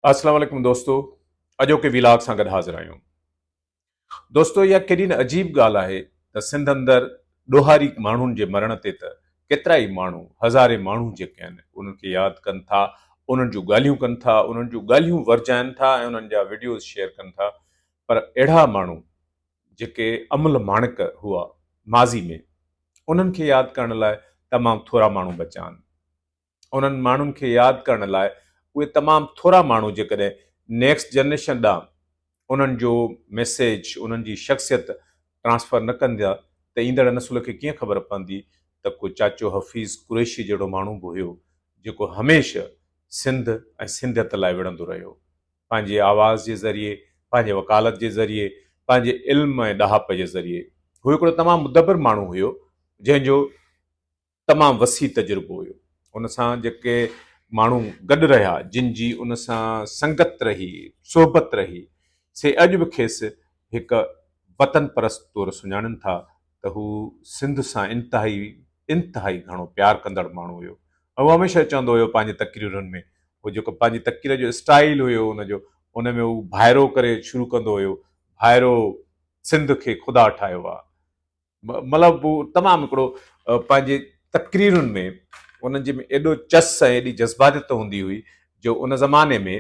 اسلام عليڪم دوستو اڄوڪي ويلاگ سان گڏ حاضر آهيون دوستو اها ڪيڏي نه عجيب ڳالهه آهي ته سنڌ اندر ڏوهاري ماڻهن جي مرڻ تي ته ڪيترا ئي ماڻهو هزارين ماڻهو جيڪي آهن انهن کي ياد ڪن ٿا انهن جون ڳالهيون ڪن ٿا انهن جون ڳالهيون ورجائن ٿا ۽ انهن جا ويڊيوز شيئر ڪن ٿا پر اهڙا ماڻهو جيڪي امل ماڻڪ هئا ماضي ۾ انهن کي ياد ڪرڻ لاء تمام ٿورا ماڻهو بچا آهن انهن ماڻهن کي ياد ڪرڻ لاء اهي تمام ٿورا ماڻهو جيڪڏهن نيڪسٽ جنريشن ڏانهن انهن جو ميسيج، انهن جي شخصيت ٽرانسفر نه ڪندا ته ايندڙ نسل کي ڪيئن خبر پوندي ته ڪو چاچو حفيظ قريشي جهڙو ماڻهو به هيو جيڪو هميشه سنڌ ۽ سنڌيت لاء وڙهندو رهيو پنهنجي آواز جي ذريعي، پنهنجي وڪالت جي ذريعي، پنهنجي علم ۽ ڏاهپ جي ذريعي. هو هڪڙو تمام مدبر ماڻهو هيو جنهن جو. تمام وسيع تجربو هيو ان سان جيڪي ماڻهو گڏ رهيا جن جي ان سان سنگت رهي صحبت رهي سي اڄ به کيس هڪ وطن پرست طور سڃاڻن ٿا ته هو سنڌ سان انتهائي انتهائي گهڻو پيار ڪندڙ ماڻهو هيو هو هميشه چوندو هيو پنهنجي تقريرن ۾ هو جيڪو پنهنجي تقرير جو اسٽائيل هيو ان جو ان ۾ هو ڀائرو ڪري شروع ڪندو هيو ڀائرو سنڌ کي خدا ٺاهيو آ مطلب هو تمام هڪڙو پنهنجي تقريرن ۾ انهن جي ۾ ايڏو چس ۽ ايڏي جذباتيت هوندي هئي جو ان زماني ۾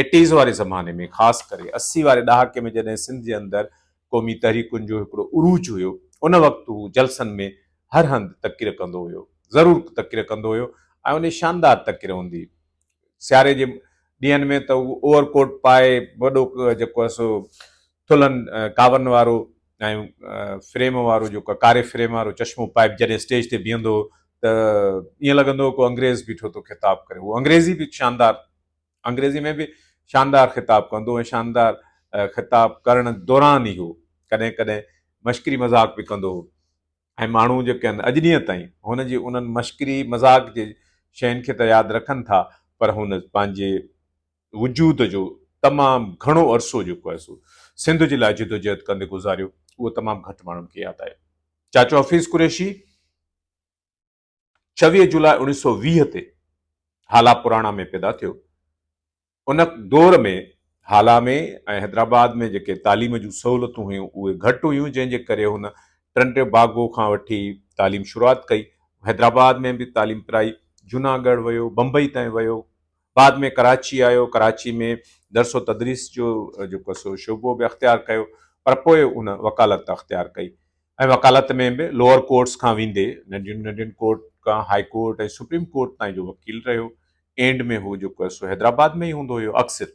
ايٽيز واري زماني ۾ خاص ڪري اسي واري ڏهاڪي ۾ جڏهن سنڌ جي اندر قومي تحريڪن جو هڪڙو عروج هيو ان وقت هو جلسن ۾ هر هنڌ تقرير ڪندو هيو ضرور تقرير ڪندو هيو ۽ ان شاندار تقرير هوندي سياري جي ڏينهن ۾ ته هو اوور ڪوٽ پائي وڏو جيڪو سو ٿلهن ڪاون وارو ۽ فريم وارو جيڪو ڪاري فريم وارو چشمو پائي جڏهن اسٽيج تي بيهندو هو ته ائين لڳندو هو ڪو انگريز بيٺو ٿو خطاب ڪري هو انگريزي به شاندار انگريزي ۾ به شاندار خطاب ڪندو ۽ شاندار خطاب ڪرڻ دوران ئي هو ڪڏهن ڪڏهن مشڪري مذاق به ڪندو هو ۽ ماڻهو جيڪي آهن اڄ ڏينهن تائين هن جي انهن مشڪري مذاق جي شين کي ته ياد رکن ٿا پر هن پنهنجي وجود جو تمام گهڻو عرصو جيڪو آهي سو سنڌ جي لاء جدوجهد ڪندي گذاريو اهو تمام گهٽ ماڻهن کي ياد آهي چاچو حفيظ قريشي چويهه جولاء اوڻيهه سؤ ويهه تي هالا پراڻا ۾ پيدا ٿيو ان دور ۾ هالا ۾ ۽ حيدرآباد ۾ جيڪي تعليم جون سهولتون هيون اهي گهٽ هيون جنهن جي ڪري هن ٽنڊي باگو کان وٺي تعليم شروعات ڪئي حيدرآباد ۾ به تعليم پرائي جوناگڙھ ويو بمبئي تائين ويو بعد ۾ ڪراچي آيو، ڪراچي ۾ درس و تدريس جو جيڪو سو شعبو به اختيار ڪيو پر پوء ان وڪالت اختيار ڪئي ۽ وڪالت ۾ به لوئر ڪورٽس کان ويندي ننڍين ننڍين ڪورٽ کان هائي ڪورٽ ۽ سپريم ڪورٽ تائين جو وڪيل رهيو. اينڊ ۾ هو جيڪو سو حيدرآباد ۾ ئي هوندو هيو اڪثر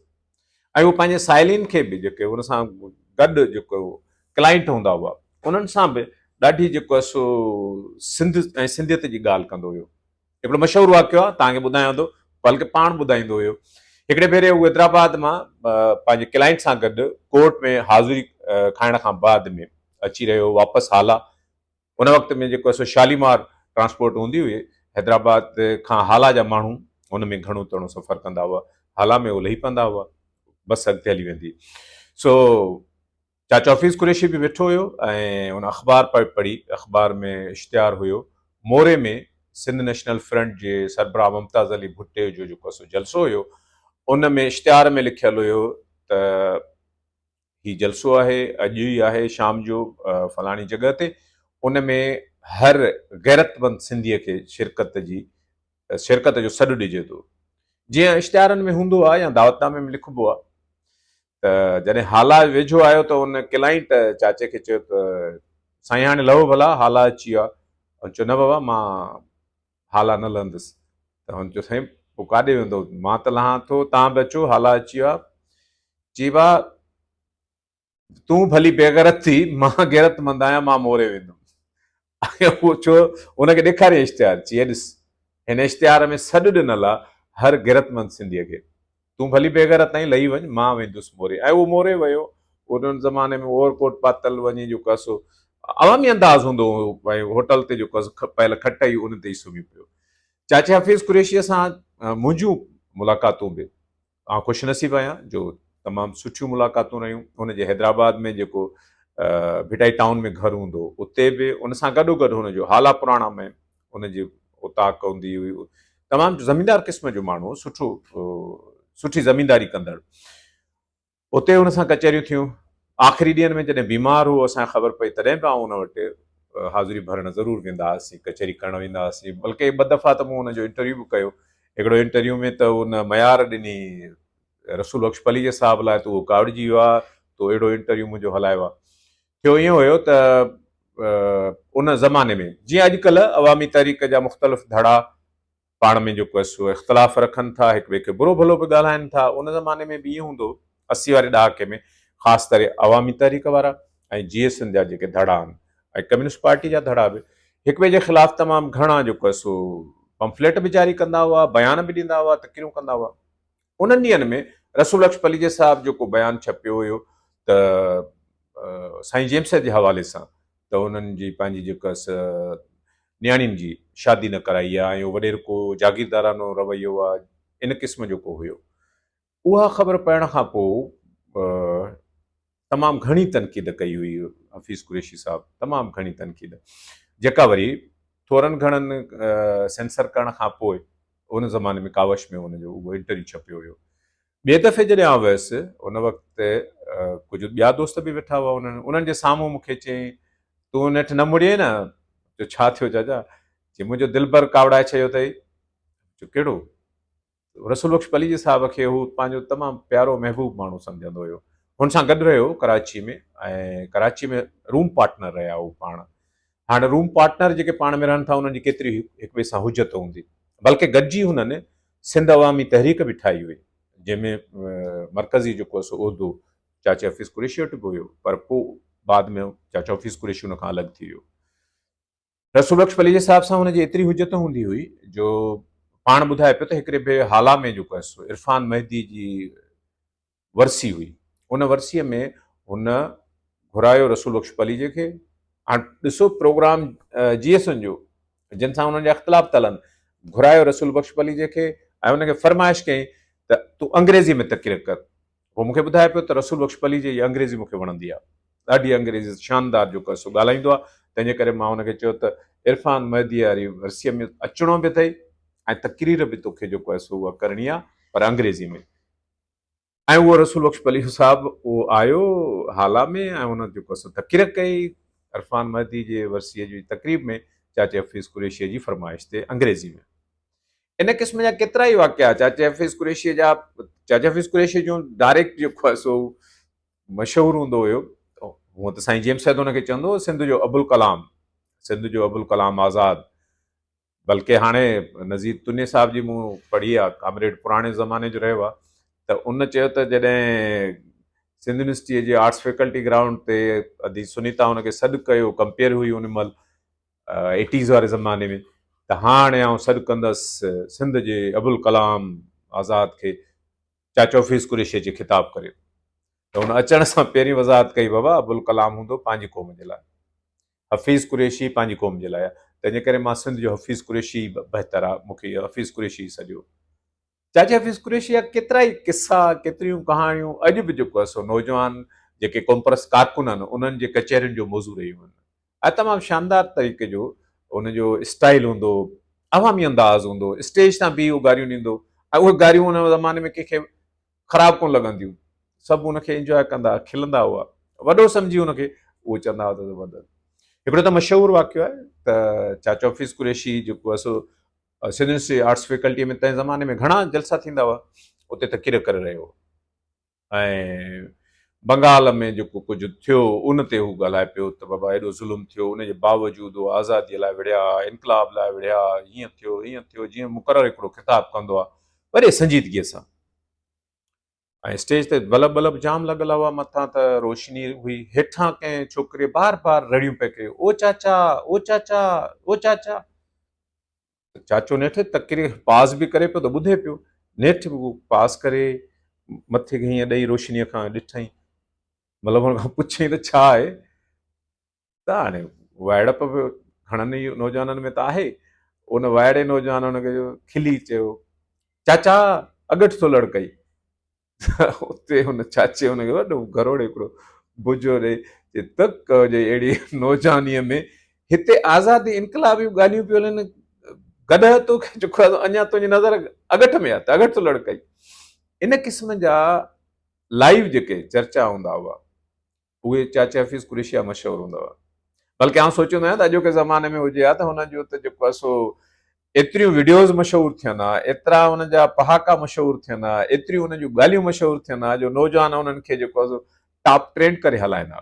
۽ هو پنهنجي سائلين کي به جيڪي هن سان گڏ جيڪو ڪلائنٽ هوندا هئا انهن سان به ڏاڍي جيڪو سو سنڌ ۽ سنڌيت جي ڳالهه ڪندو هيو. هڪڙو مشهور واقعو آهي توهان کي ٻڌايان ٿو بلڪه پاڻ ٻڌائيندو هيو هڪڙي ڀيري هو حيدرآباد مان پنهنجي ڪلائنٽ سان گڏ ڪورٽ ۾ حاضري کائڻ کان بعد ۾ اچي رهيو واپس هالا ان وقت ۾ جيڪو سو شاليمار ٽرانسپورٽ هوندي هئي حيدرآباد کان هالا جا ماڻهو ان ۾ گهڻو تڻو سفر ڪندا هئا هالا ۾ هو لهي پوندا هئا بس اڳتي هلي ويندي سو چاچو حفيظ قريشي به ويٺو هيو ۽ هن اخبار پئي پڙهي. اخبار ۾ اشتهار هيو. موري ۾ سنڌ نيشنل فرنٽ جي سربراهه ممتاز علي ڀٽي جو جيڪو سو جلسو هيو، ان ۾ اشتهار ۾ لکيل هيو ته هي جلسو آهي، اڄ ئي آهي شام جو فلاڻي جڳهه تي، ان ۾ هر غيرتمند سنڌيء کي شرڪت جي شرڪت جو سڏ ڏجي ٿو. جيئن اشتهارن ۾ هوندو آهي يا دعوتنامي ۾ لکبو آهي ته جڏهن هالا ويجهو آيو ته ان ڪلائنٽ چاچي کي چيو ته سائين هاڻي لهو ڀلا هالا اچي ويو آهي هن چيو نه بابا مان هالا نه لهندس ته هن چيو سائين پوء ڪاڏي ويندو مان ته لهان ٿو تان به اچو هالا اچي ويو آهي چي با تون ڀلي بيغرت ٿي مان غيرت مند آهيان مان موري ويندم پڇيو هن کي ڏيکاريئي اشتهار، چيئي ڏس هن اشتهار ۾ سڏ ڏنل آ هر غيرتمند سنڌيء کي، تون ڀلي بيغيرت تائين لهي وڃ مان ويندس موري ۽ اهو موري ويو، ان زماني ۾ اوور ڪوٽ پاتل وڃي جو ڪس عوامي انداز هوندو هو ۽ هوٽل تي جو ڪس پيل کٽ هئي ان تي ئي سمهي پيو. چاچي حفيظ قريشيء سان منهنجون ملاقاتون به. آئون خوش نصيب آهيان جو تمام سٺيون ملاقاتون رهيون هن جي حيدرآباد ۾ جيڪو ڀٽائي ٽائون ۾ گهر هوندو هو اتي به ان سان گڏو گڏ هن جو هالا پراڻا ۾ ان جي اوطاق هوندي هئي تمام زميندار قسم جو ماڻهو سٺو سٺي زمينداري ڪندڙ اتي هن سان ڪچهريون ٿيون آخري ڏينهن ۾ جڏهن بيمار هو، اسان کي خبر پئي تڏهن به آئون ان وٽ حاضري ڀرڻ ضرور ويندا هئاسين، ڪچهري ڪرڻ ويندا هئاسين، بلڪه ٻه دفعا ته مون ان جو انٽرويو به ڪيو، هڪڙو انٽرويو ۾ ته ان ميار ڏني رسول بخش پليجي صاحب لاء ته اهو ڪاوڙجي ويو آ تو اهڙو انٽرويو منهنجو هلايو آ. ٿيو ائين هيو ته ان زماني ۾ جيئن اڄڪلهه عوامي تحريڪ جا مختلف ڌڙا پاڻ ۾ جيڪو سو اختلاف رکن ٿا، هڪ ٻئي کي برو ڀلو به ڳالهائن ٿا، ان زماني ۾ به ائين هوندو هو، اسي واري ڏهاڪي ۾ خاص ڪري عوامي تحريڪ وارا ۽ جي ايس اين جا جيڪي ڌڙا آهن ۽ ڪميونسٽ پارٽي جا ڌڙا به هڪ ٻئي جي خلاف تمام گهڻا جيڪو سو پمفليٽ به جاري ڪندا هئا، بيان به ڏيندا هئا، تقريرون ڪندا هئا. انهن ڏينهن ۾ رسول بخش پليجي صاحب جو ڪو بيان ڇپيو هيو ته سائين جيمس جي حوالي سان ته انهن جي پنهنجي جيڪا نياڻين جي شادي نه ڪرائي آهي ۽ اهو وڏير ڪو جاگيردارانو رويو آهي ان قسم جو ڪو هيو اها خبر پڙهڻ کان پوء تمام گهڻي تنقيد ڪئي هئي حفيظ قريشي صاحب تمام گهڻي تنقيد جيڪا وري ٿورن گهڻن سينسر ڪرڻ کان پوء ان زماني ۾ ڪاوش ۾ ان جو اهو انٽرويو ڇپيو هيو ٻئي دفعي جڏهن آ ويس ان وقت ڪجهه ٻيا دوست به ويٺا هئا انهن انهن جي سامهون مون کي چيائين تون نيٺ نه مڙيئي نه جو ڇا ٿيو جاجا چي منهنجو دلبر ڪاوڙائي ڇڏيو اٿئي جو ڪهڙو رسول بخش پليجي صاحب کي هو پنهنجو تمام پيارو محبوب ماڻهو سمجهندو هيو هن سان گڏ رهيو ڪراچي ۾ ۽ ڪراچي ۾ روم پارٽنر رهيا هو پاڻ هاڻي روم پارٽنر جيڪي پاڻ ۾ رهن ٿا انهن جي ڪيتري هڪ ٻئي سان حجت هوندي بلڪه گڏجي هنن سنڌ عوامي تحريڪ به ٺاهي هئي جنهن ۾ مرڪزي جيڪو هو سو عهدو چاچي حفيظ قريشي وٽ به هيو پر پوء بعد ۾ چاچو حفيظ قريشي ان کان الڳ ٿي ويو رسول بخش پليجي صاحب سان هن جي ايتري حجت هوندي هئي جو پاڻ ٻڌائي پيو ته هڪڙي ڀي هالا ۾ جيڪو آهي سو عرفان مهدي جي ورسي هئي ان ورسيء ۾ هن گهرايو رسول بخش پليجي کي هاڻ ڏسو پروگرام جي ايس ان جو جن سان هنن جا اختلاف ٿا هلن گهرايو رسول بخش پليجي کي ۽ هن کي فرمائش ڪئي ته تون انگريزي ۾ تقرير ڪر هو مون کي ٻڌائي پيو ته رسول بخش پليجي جي انگريزي مون کي وڻندي آهي. ڏاڍي انگريزي شاندار جيڪو آهي سو ڳالهائيندو آهي. تنهن جي ڪري مان هن کي چيو ته عرفان مهديء واري ورسيء ۾ اچڻو به اٿئي ۽ تقرير به توکي جيڪو آهي سو اها ڪرڻي آهي پر انگريزي ۾. ۽ اهو رسول بخش پليجو صاحب اهو آيو هالا ۾ ۽ هن جيڪو آهي سو تقرير ڪئي عرفان مهدي جي ورسيء جي تقريب ۾ چاچي حفيظ قريشيء جي فرمائش تي انگريزي ۾. ان قسم جا ڪيترا ئي واقعا چاچي چاچي حفيظ حفيظ قريشي قريشي جا جون ڊائريڪٽ جيڪو آهي سو مشهور هوندو هيو هونء ته سائين جيم سيد هن کي چوندو هو سنڌ جو ابوالڪلام سنڌ جو ابوالڪلام آزاد بلڪه هاڻي نذير تني صاحب جي مون پڙهي آ ڪامريڊ پراڻي زماني جو رهيو آ ته ان چيو ته جڏهن سنڌ يونيورسٽيء جي آرٽس فيڪلٽي گرائونڊ تي ادي سنيتا هن کي سڏ ڪيو ڪمپيئر هئي ان مهل ايٽيز واري زماني ۾ ته هاڻي آئون سڏ ڪندس سنڌ جي ابوالڪلام آزاد کي چاچو حفيظ قريشي جي خطاب ڪري ته هن اچڻ سان پهرين وضاحت ڪئي بابا ابوالڪلام هوندو پنهنجي قوم جي لاء حفيظ قريشي پنهنجي قوم جي لاء تنهنجي ڪري مان سنڌ جو حفيظ قريشي بهتر آ مونکي حفيظ قريشي سڏيو جاجي حفيظ قريشي جا ڪيترائي قصا، ڪيتريون ڪهاڻيون اڄ به جيڪو سو نوجوان جيڪي قومپرست ڪارڪن آهن انهن جي ڪچهرين جو موضوع رهيون آهن ۽ تمام شاندار طريقي جو ان جو اسٽائيل هوندو هو، عوامي انداز هوندو هو، اسٽيج تان بيهي هو گاريون ڏيندو هو ۽ اهي گاريون ان زماني ۾ ڪنهن کي خراب ڪونه لڳنديون سڀ ان کي انجواء ڪندا هئا، کلندا هئا، وڏو سمجهي ان کي اهو چوندا هئا ته زبردست. هڪڙو ته مشهور واقعو آهي ته چاچو حفيظ قريشي جيڪو سو سنڌ يونيورسٽي جي آرٽس فيڪلٽيء ۾ تنهن زماني ۾ گهڻا جلسا ٿيندا هئا، اتي ته ڪير ڪري رهيو هو ۽ بنگال ۾ جيڪو ڪجهه ٿيو ان تي هو ڳالهائي پيو ته بابا ايڏو ظلم ٿيو، ان جي باوجود هو آزاديء لاء وڙهيا، انقلاب لاء وڙهيا، هيئن ٿيو، هيئن ٿيو، جيئن مقرر هڪڙو خطاب ڪندو آهي، وڏي سنجيدگيء سان. ۽ اسٽيج تي بلب بلب جام لڳل هئا، مٿان ته روشني هئي، هيٺان ڪنهن ڇوڪريء بار بار رڙيون پئي ڪيون، او چاچا، او چاچا، او چاچا. ته چاچو نيٺ تڪري پاز به ڪري پيو ته ٻڌي پيو، نيٺ به هو پاز ڪري مٿي کي هيئن ڏئي روشنيء کان ڏٺائين، مطلب هن کان پڇيائين ته ڇا آهي؟ ته هاڻي وائڙپ به گهڻن ئي نوجوانن ۾ ته آهي ان وائڙي نوجوان ان کي کلي چيو چاچا اڳٺ ٿو لڙڪئي اتي ان چاچي ان کي وڏو گروڙ هڪڙو بجو ڏئي چي تڪ جي اهڙي نوجوانيء ۾ هتي آزادي انقلابيون ڳالهيون پيو هلن گڏهه تو کي چڪو اڃا تنهنجي نظر اڳٺ ۾ آهي ته اڳٺ ٿو لڙڪئي ان قسم جا لائيو جيڪي چرچا هوندا هئا اهي چاچي حفيظ قريشي جا مشهور هوندا هئا بلڪه آئون سوچيندو آهيان ته اڄوڪي زماني ۾ هجي ها ته هن جو ته جيڪو آهي سو ايتريون ويڊيوز مشهور ٿين ها ايترا ان جا پهاڪا مشهور ٿين ها ايتريون ان جون ڳالهيون مشهور ٿين ها جو نوجوان انهن کي جيڪو آهي سو ٽاپ ٽرينڊ ڪري هلائيندا